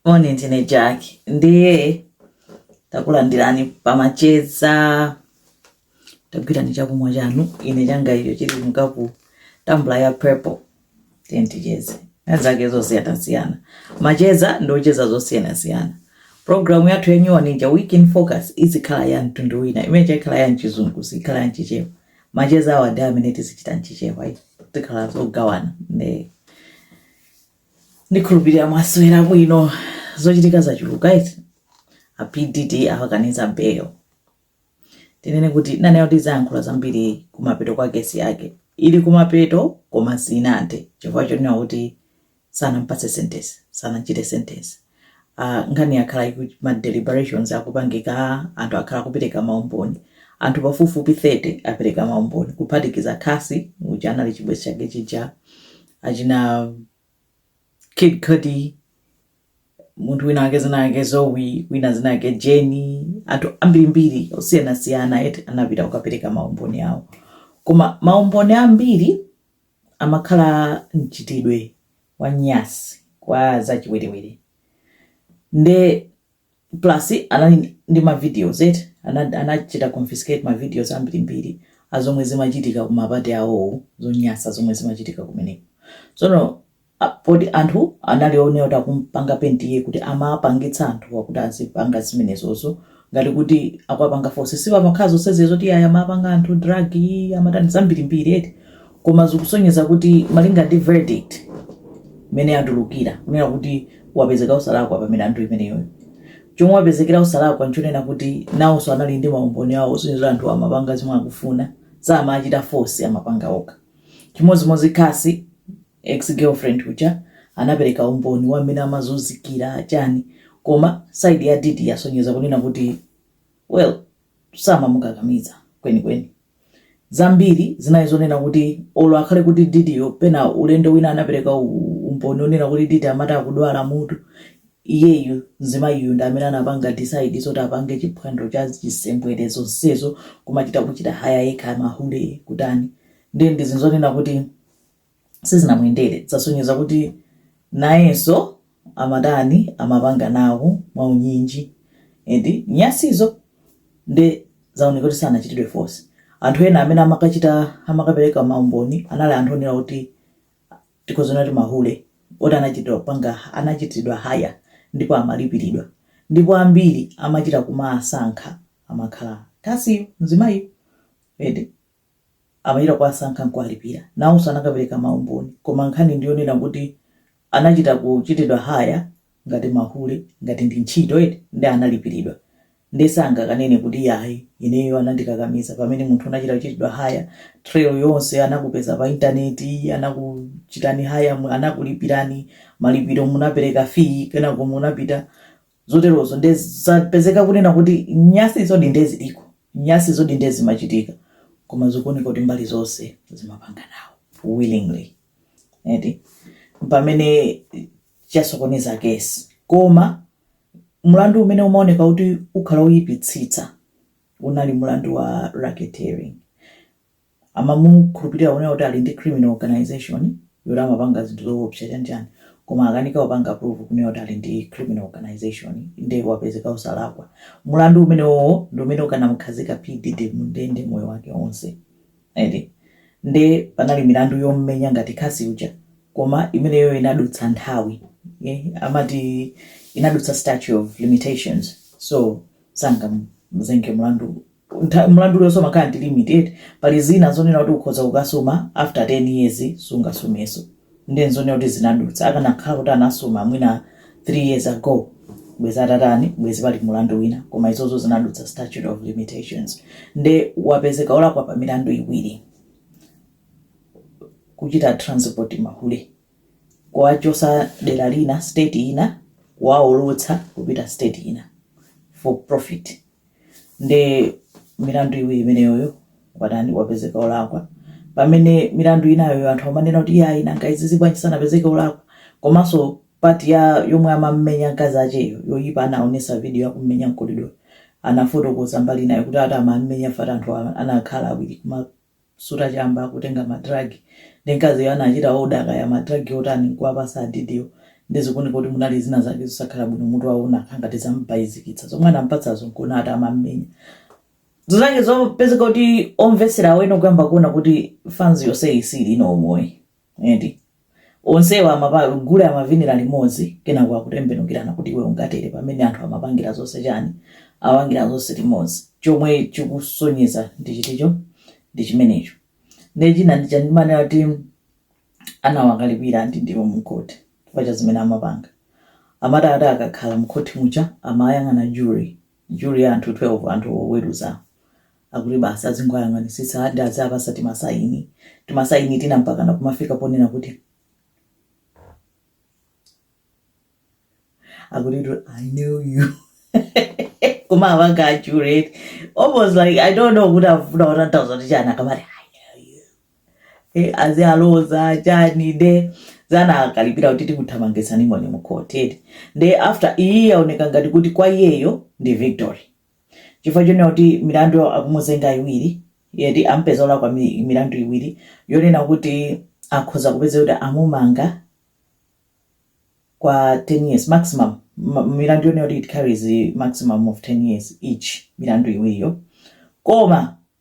Moni ndine Jack ndiye takulandirani pamacheza tagwirani chakumwa chanu ine changa icho chili mu tumbler ya purple tenticheze nazo zosiyanasiyana macheza ndikucheza zosiyanasiyana programu yathu ya nyuwani ija week in focus izikhala ya mtundu wina imene chakhala ya mchizungu siikhala ya mchichewa macheza awa ndi amene tizichita mchichewa tikhala tikugawana ndi ndikhulupirira mwaswera bwino zochitika zachuluka izi a P Diddy awakaniza bail tinene kuti nanenso tizayankhula zambiri kumapeto kwa kesi yake ili kumapeto koma sinathe chifukwa chonena kuti sanampatse sentence sanachite sentence Uh, nkhani yakhala ma deliberations akupangika anthu akhala kupereka maumboni anthu pafupifupi 30 apereka maumboni kuphatikiza Cassie uja anali chibwenzi chake chija achina Kid Cudi munthu wina wake dzina lake Zoe wina dzina lake Jane anthu ambirimbiri osiyanasiyana eti anapita kukapereka maumboni awo koma maumboni ambiri amakhala a mchitidwe wa nyansi kwa za chiwerewere nde plus anali ndi ma videos eti anachita confiscate ma videos ambirimbiri azomwe zimachitika ku ma party awowo zonyansa zomwe zimachitika kumeneko tsono poti anthu anali onena kuti akumupanga paint iye kuti amawapangitsa anthuwa kuti azipanga zimenezozo ngati kuti akuwapanga force sipamakhala zonsezo kuti iyayi amawapanga anthu drug amatani zambirimbiri eti koma zikusonyeza kuti malinga ndi verdict mmene yatulukira kunena kuti wapezeka osalakwa pa milandu imeneyoyo chomwe wapezekera osalakwa nchonena kuti nawonso anali ndi maumboni awo osonyeza kuti anthuwa amapanga zomwe akufuna samachita force amapanga okha chimodzimodzi Cassie Ex girlfriend uja anapeleka umboni wa mmene amazunzikila chani koma side ya Diddy yasonyeza kunena kuti well samamukakamiza kweni kweni. Zambiri zinali zonena kuti olo akhale kuti Diddyyo pena ulendo wina anapeleka umboni onena kuti Diddy amati akudwala mutu, iyeyu mzimayiyu ndi amene anapanga decide zoti apange chiphwando cha chisembwele zonsezo kumachita kuchita hire yekha mahule kutani nde ndi zinthu zonena kuti sizinamuyendere zasonyeza kuti nayenso amatani amapanga nawo mwaunyinji eti nyansizo nde zaoneka kuti sanachitidwe force anthu ena amene amakachita amakapereka maumboni anali anthu onena kuti tikuziona kuti mahule oti anachitidwa kupanga anachitidwa haya ndipo amalipiridwa ndipo ambiri amachita kuwasankha amakhala Cassieyo mzimayi eti amachita kuwasankha nkuwalipira. Nawonso anakapereka ma umboni koma nkhani ndiyonena kuti anachita kuchitidwa hire ngati mahule ngati ndi ntchito eti nde analipiridwa nde sangakanene kuti yayi ineyo anandikakamiza pamene munthu unachita kuchitidwa hire trail yonse anakupeza pa internet anakuchitani hire anakulipirani malipiro munapereka fee kenako munapita zoterozo nde zapezeka kunena kuti nyasizodi nde ziliko nyasizodi nde zimachitika koma zikuoneka kuti mbali zonse zimapanga nawo willingly eti chimene chasokoneza kesi koma mlandu umene umaoneka kuti ukhala uyipitsitsa unali mlandu wa racketeering amamukhulupirira kunena kuti ali ndi criminal organisation yoti amapanga zinthu zoopsa chanichani koma akanika kupanga prove kunena kuti ali ndi criminal organisation nde wapezeka osalakwa mlandu umenewowo ndi umene ukanamukhazika P Diddy mu ndende moyo wake onse eti nde panali milandu yommenya ngati Cassie uja koma imeneyo inadutsa nthawi ye amati inadutsa statute of limitations so sangamuzenge mlandu ntha, mlandu uliwonse umakhala ndi limit eti, pali zina zonena kuti ukhoza kukasuma after 10 years sungasumenso nde nzonena kuti zinadutsa, akanakhala kuti anasuma mwina 3 years ago bwezi atatani bwezi pali mlandu wina koma izozo zinadutsa statute of limitations nde wapezeka olakwa pa milandu iwiri kuchita transport mahule kuwachosa dera lina state ina kuwaolotsa kupita state ina for profit nde milandu iwiri imeneyoyo watani wapezeka olakwa pamene milandu inayoyo anthu amanena kuti yayi nanga izizi bwanji sanapezeke olakwa komanso pati ya yomwe amammenya mkazi acheyo yoyipa anaonesa video yakummenya mkolidoyo anafotokoza mbali inayo kuti ati amammenya fati anthu a- anakhala awiri kuma suta chamba kutenga ma drug ndi mkaziyo anachita order kaya ma drug otani nkuwapasa a Diddy wo nde zikuoneka kuti munali zina zake zosakhala bwino mutu wawo unakhala ngati zamubaizikitsa zomwe anampatsazo nkuona ati amammenya zake zopezeka kuti omvetsera awene kuyamba kuona kuti fans yonseyi siili ndi moyo eti Onsewa amapa, gule amavinira limodzi kenako akutembenukirana kuti iwe ungatere pamene anthu amapangira zonse chani apangira zonse limodzi chomwe chikusonyeza ndi chiticho ndi chimenecho nde china ndi chomwe amanena kuti anawakalipira Diddy mukhoti pa cha zimene amapanga amati ati akakhala mkhoti muja amayang'ana jury Jury ya anthu 12 anthu oweruza akuti basi azingowayang'anisitsa and aziwapatsa timasaini timasaini tina mpakana kumafika ponena kuti akuti tu i know you koma awanga a jury it's almost like i don't know kuti afuna kutanthauza chani akamati i know you e, azialoza chani nde dzana akalipira kuti tikuthamangitsani muno mukoti eti nde after iyi yaoneka ngati kuti kwa iyeyo ndi victory chifukwa chonena kuti milandu akumuzenga iwiri yeti ampeza olakwa mi- milandu iwiri yonena kuti akhoza kupeza kuti amumanga kwa 10 years maximum ma- milandu yonena kuti it carries maximum of 10 years each milandu iwiriyo koma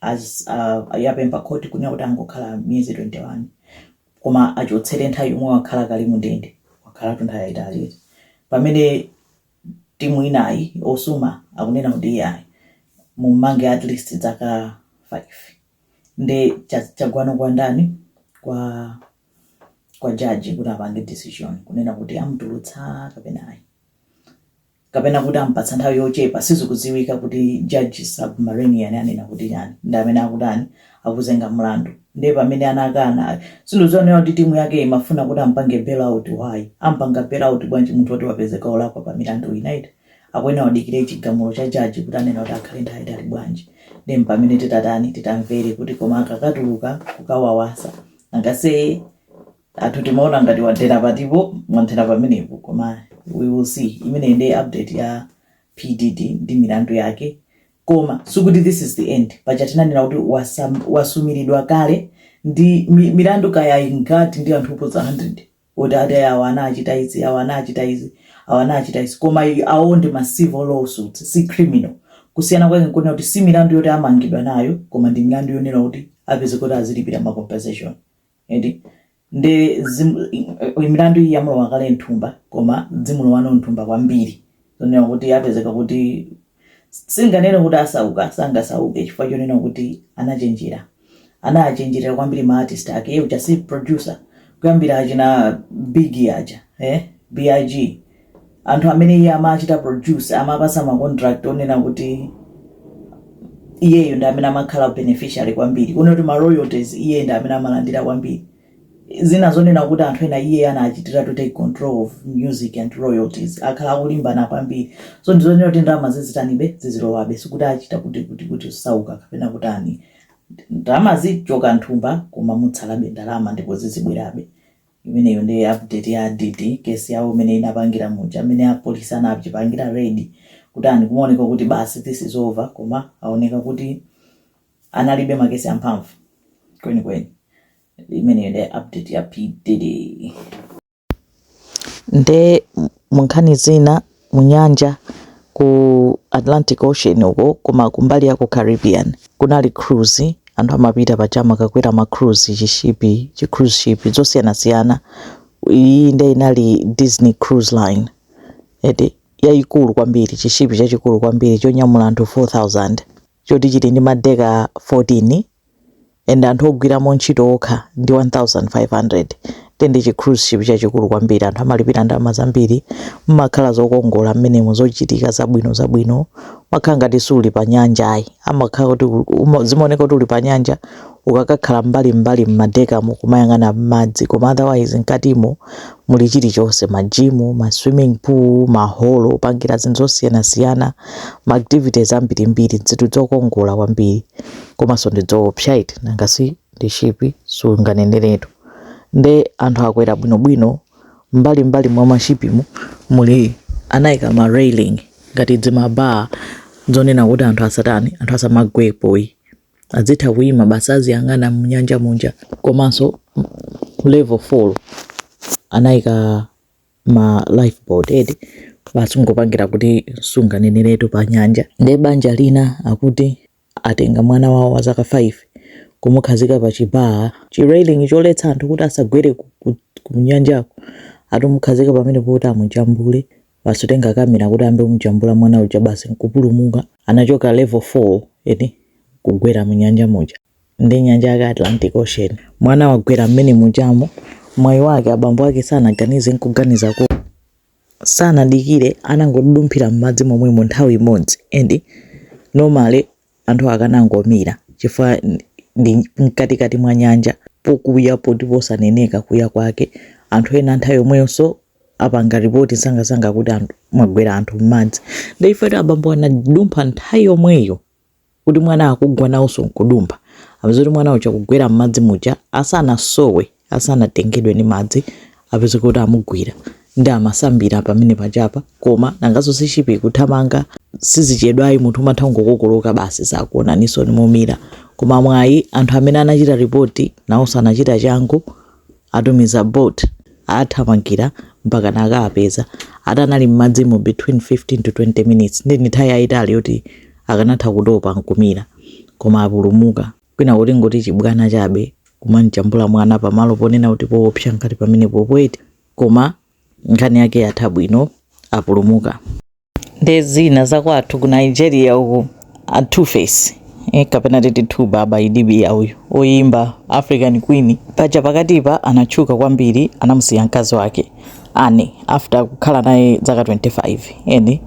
as yapempha court kunena kuti angokhala miyezi 21 koma achotsere nthawi yomwe wakhala kale mu ndende wakhalatu nthawi yayitali eti pamene timu inayi osuma akunena kuti iyayi mummange at least dzaka 5 nde cha- chagwa no kwa ndani kwa kwa jaji kuti apange decision kunena kuti amutulutsa kapena ayi kapena kuti amupatsa nthawi yochepa sizikudziwika kuti judge Subramanian anena kuti chani ndi amene akutani akuzenga mlandu ndiye pamene anakana ayi ndi zonena kuti timu yake imafuna kuti ampange bail out why ampanga bail out bwanji munthu woti wapezeka olakwa pa milandu inayo eti akuyenera adikire chigamulo cha jaji kuti anena kuti akhale nthawi yaitali bwanji ndi mpamene titatani titamvere kuti koma akakatuluka kukawawasa angase athu timaona ngati wathera patipo mwathera pamenepo koma we will see imeneyi ndiye update ya P Diddy ndi milandu yake koma sikuti this is the end paja tinanena kuti wasum- wasumiridwa kale ndi mi- milandu kaya ingati ndi anthu oposa 100 kuti ati awa anawachita izi awa anawachita izi awa anawachita izi koma i- awo ndi ma civil lawsuits si criminal kusiyana kwake nkonena kuti si milandu yoti amangidwa nayo koma ndi milandu yonena kuti apeze kuti azilipira ma compensation eti nde zimu- i- i- milandu iyi yamulowa kale mthumba koma zimulowa no mthumba kwambiri zonena kuti apezeka kuti singanene kuti asauka sangasauke chifukwa chonena kuti anachenjera anachenjerera kwambiri ma artist ake iye uja si producer kuyambira achina Biggie aja eh big anthu amene iye amachita produce amawapatsa ma contract onena kuti iyeyo ndi amene amakhala beneficiary kwambiri kunena kuti ma royalties iye ndi amene amalandira kwambiri zina zonena kuti anthu ena iye anachitira to take control of music and royalties akhala akulimbana kwambiri so ndi zonena kuti ndalama zizitanibe zizilowabe sikuti achita kuti kuti kuti kusauka kapena kutani ndalama zichoka nthumba koma mutsalabe ndalama ndipo zizibwerabe imeneyo nde update ya Diddy case yawo mmene inapangira muja amene apolice anachipangira raid kutani kumaoneka kuti basi this is over koma aoneka kuti analibe makesi amphamvu kwenikweni imeneyo nde update ya P Diddy nde munkhani zina mu nyanja ku Atlantic Ocean uko koma kumbali ya ku Caribbean kunali cruise anthu amapita paja amakakwera ma cruise chishipi chi cruise ship zosiyanasiyana iyi nde inali Disney Cruise Line eti yayikulu kwambiri chishipi chachikulu kwambiri chonyamula anthu 4000 choti chili ndi madeka 14 and anthu ogwiramo ntchito okha ndi 1500 nde ndi chi cruise ship chachikulu kwambiri anthu amalipira ndalama zambiri mmakhala zokongola mmenemo zochitika zabwino zabwino umakhala ngati suli pa nyanja ayi amakhala kuti uma- zimaoneka kuti uli pa nyanja ukakakhala mbali mbali mmadekamo kumayang'ana mmadzi koma otherwise mkatimo muli chilichonse majimu ma swimming pool maholo opangira zinthu zosiyanasiyana ma activities ambirimbiri zinthu zokongola kwambiri komanso ndi zoopsa eti nanga si ndi shipi sunganeneretu nde anthu akwera bwinobwino mbali mbali mwa mashipimu muli anayika ma railing ngati zimabaa zonena kuti anthu asatani anthu asamagwepoyi azitha kuyima basi aziyang'ana mnyanja munja komanso level 4 anayika ma lifeboat eti basi kungopangira kuti sunganeneretu pa nyanja nde banja lina akuti atenga mwana wawo wa zaka 5 kumukhazika pa chi bar, chi railing choletsa anthu kuti asagwere ku nyanjako, atamukhazika pamenepo kuti amujambule, basi kutenga camera kuti ayambe kumujambula mwana uja basi nkupulumuka, anachoka level 4 eti kugwera mu nyanja muja, nde nyanja yake Atlantic Ocean, mwana wagwera mmene mujamo, mwayi wake abambo ake sanaganize nkuganizako. sanadikire anangodudumphira m'madzi momwemo nthawi imodzi and normally anthu akanangomira chifukwa ndi mkatikati mwa nyanja pokuya poti posaneneka kuya kwake anthu ena nthawi yomweyonso apanga ripoti msangamsanga kuti anthu mwagwera anthu m'madzi ndeife kuti abambo anadumpha nthawi yomweyo kuti mwana akugwa nawonso nkudumpha apeza kuti mwana uja kugwera m'madzi muja asanasowe asanatengedwe ndi madzi apeza kuti amugwira nde amasambira pamene pajapa koma nanganso si shipi kuthamanga sizichedwayi munthu umatha kungokokoloka basi sakuonaninso nde mumira koma mwayi anthu amene anachita ripoti nawonso anachita changu Atumiza boat athamangira mpakana akawapeza atanali m'madzimo between 15 to 20 minutes nde ndi nthawi yayitali yoti akanatha kutopa nkumira koma apulumuka. Kwinako tingoti chibwana chabe kumamjambula mwana pamalo ponena kuti poopsa ngati pamenepopo eti koma nkhani yake yatha bwino apulumuka. ndi zina zakwathu ku nigeria uku a two face eh, kapena titi two baba idibia uyu oyimba african queen paja pakatipa anatchuka kwambiri anamusiya mkazi wake annie after kukhala naye zaka 25 and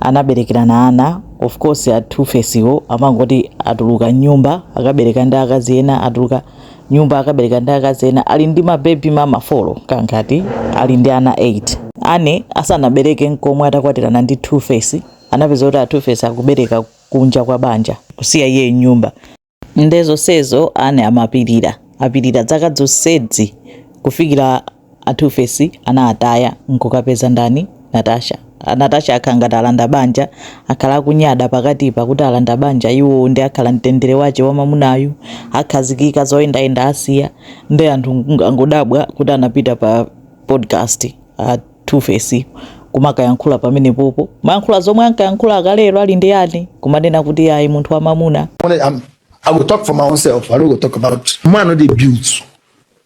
anaberekerana ana of course a two face wo amangoti atuluka mnyumba akabereka ndi akazi ena atuluka nyumba akabereka ndi akazi ena ali ndi mabebi mama four kangati ali ndi ana 8 annie asanabereke nkomwe atakwatirana ndi two face anapeza kuti a two face akubereka kunja kwa banja kusiya iye mnyumba nde zonsezo annie amapirira apirira dzaka dzonsedzi kufikira A Tuface anawataya nkukapeza ndani? Natasha. A Natasha akhala ngati alanda banja, akhala akunyada pakatipa kuti alanda banja iwowo nde akhala mtendere wache wa mamunayu, akhazikika zoyendayenda asiya nde anthu angodabwa kuti anapita pa podcast a Tuface kumakayankhula pamenepopo kumayankhula zomwe ankayankhula akalero ali ndi Annie kumanena kuti ayi munthu wa mamuna Honestly, I will talk for my own self. I don't go talk about man not build.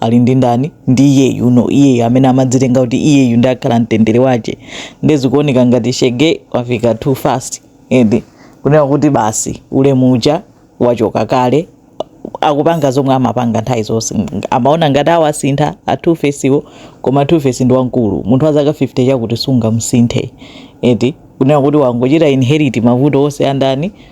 ali ndi ndani ndi iyeyu no iyeyu amene amadzitenga kuti iyeyu ndi akhala mtendere wache nde zikuoneka ngati shege wafika too fast and kunena kuti basi ulemu uja wachoka kale akupanga zomwe amapanga nthawi zonse amaona ngati awasintha a two face wo koma two face ndi wamkulu munthu wa zaka 50 chakuti sungamsinthe eti kunena kuti wangochita inherit mavuto onse andani